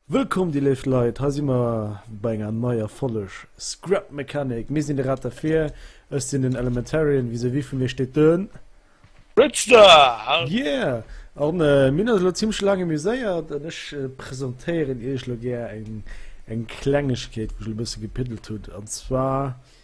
Wëllkomm dir léift Leit, hei si mer bei enger neier Folleg Scrap Mechanic. Mir sinn de Rat derfir, ech sinn den Elementarian, vis-à-vis vu mir steet den. Richter! Yeah! An mir hunn eis elo zimmlech laang amuséiert an ech presentéieren iech elo gär eng Klengegkeet wou ech elo e bësse gepiddelt hunn an zwar.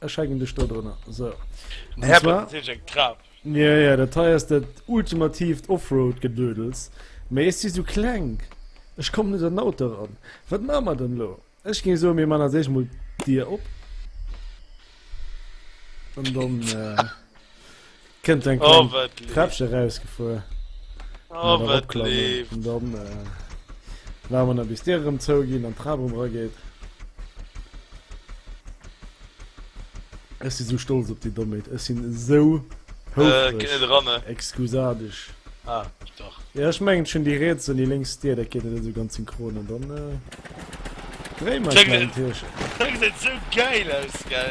Ech hängen dech do drënner. So. Den Herr zwar, sech eng Trap. Ja, ja, dat hei ass dat ultimativt Offroad-Gedödels. Mee ech si sou kleng. Ech komm net an den Auto ran. Wat maache mer dann elo? Ech géing soen, mir man als éischt mol d'Dier op. An dann. Äh, Kënnt eng oh, Treppche rausgefuer. Oh, wat leef. Und dann äh, war man a bis Dir rëm zouginn an Trab rum rageet. Ech si so stolz op déi Domméit. Ech sinn esou houfreg. Äh, Excusadech. Ah, doch. Ja, ech mengen schon déi Reets an déi lénks Dir, dat geet net esou ganz synchron an dann, äh, dréi mer den Tierchen. Dat geet esou geil aus, gell?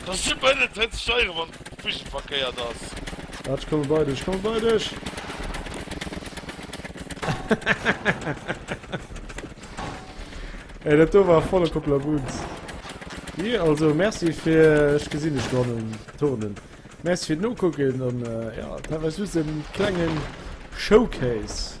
Et ass super hinnen drenn ze steieren wann d'Vision verkéiert ass. Waart ech komme bei dech, ech komme bei dech! Ey dat do war volle Koppler Wunz. Wi also Merci fir ech gesinn dech do hannen turnen. Merci fir d'Nokucken an jo dat war just en klengen Showcase.